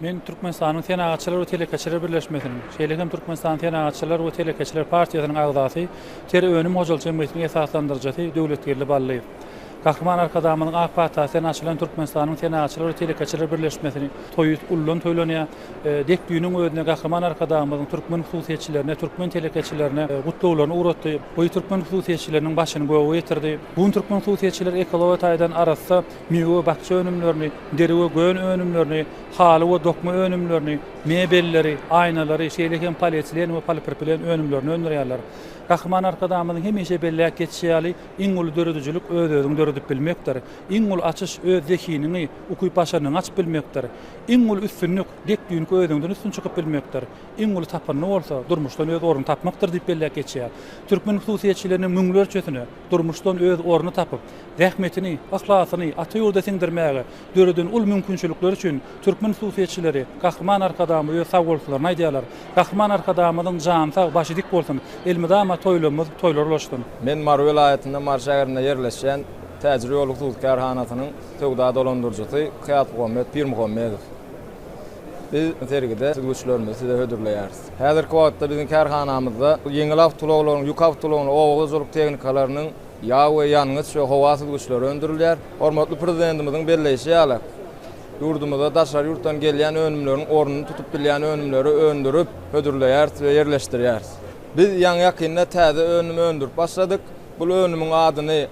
Men Türkmenistanyň Senagatçylar we telekeçiler birleşmesiniň, şeýle hem Türkmenistanyň Senagatçylar we telekeçiler partiýasynyň agzasy, Ter önüm hojalyk jemgyýetiniň esaslandyryjysy Döwletgeldi Ballyýew. Gahryman Arkadagymyzyň ak patasy bilen açylan Türkmenistanyň Senagatçylar we telekeçiler birleşmesini toýy uludan toýlanýar. Dek düýnüň özünde Gahryman Arkadagymyzyň türkmen hususyýetçilerine, türkmen telekeçilerine gutlaglaryny ugratdy. Goý türkmen hususyýetçileriniň başyny göge getirdi. Bu gün türkmen hususyýetçileri ekologiýa taýdan arassa, Miwe we bakja önümlerini, deri we gön önümlerini, haly we dokma önümlerini, mebelleri, aýnalary, şeýle hem polietilen we polipropilen önümlerini öndürýärler. Gahryman Arkadagymyzyň hemişe belläp geçişi ýaly, iň uly döredijilik öz-özüňi döredip bilmekdir. Iň uly açyş öz zehiniňi, ukyp-başarnygyňy açyp bilmekdir. Iň uly üstünlik dek düýnki özüňden üstün çykyp bilmekdir. Iň uly tapyndy bolsa, durmuşdan öz ornuňy tapmakdyr diýip belläp geçýär. Türkmen hususyýetçileriniň müňlerçesine, durmuşdan öz ornuny tapyp, zähmetini, yhlasyny ata ýurda siňdirmäge döreden uly mümkinçilikleri üçin türkmen hususyýetçileri Gahryman Arkadagymyza öz sagbolsulylaryny aýdýarlar. Gahryman Arkadagymyzyň jany sag, başy dik bolsun! Elmydama toýlarymyz toýlar ulaşsyn! Men Mary welaýatynda Mary şäherinde ýerleşýän Täjirýol hususy kärhanasynyň söwda dolandyryjysy Kyýasmuhammet Pirmuhammedow. Biz sergide düzgüçlerimizi size hödürleýäris. Häzirki wagtda biziň kärhanamyzda ýeňil awtoulaglaryň, ýük awtoulagynyň, oba hojalyk tehnikalarynyň ýag we ýangyç we howa süzgüçleri öndürilýär. Hormatly Prezidentimiziň belleýşi ýaly, ýurdumyzda daşary ýurtdan gelýän önümleriň ornuny tutup bilýän önümleri öndürip, hödürleýäris we ýerleşdirýäris. Biz ýaňy-ýakynda täze önüm öndürip başladyk. Bu önümiň adyny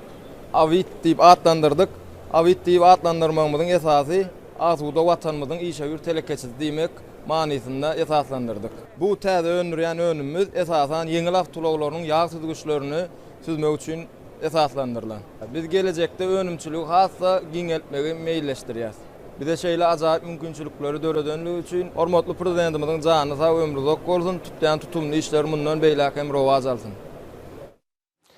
Awit diýip atlandyrdyk. Awit diýip atlandyrmagymyzyň esasy, Asuda Watanymyzyň işewür telekeçisi diýmek manysynda esaslandyrdyk. Bu täze öndürýän önümimiz esasan ýeňil awtoulaglarynyň ýag süzgüçlerini süzmek üçin esaslandyrylan. Biz gelejekde önümçiligi has-da giňeltmegi meýilleşdirýäs. Bize şeýle ajaýyp mümkinçilikleri döredenligi üçin hormatly Prezidentimiziň jany sag, ömri uzak bolsun, tutýan tutumly işleri mundan beýläk hem rowaç alsyn!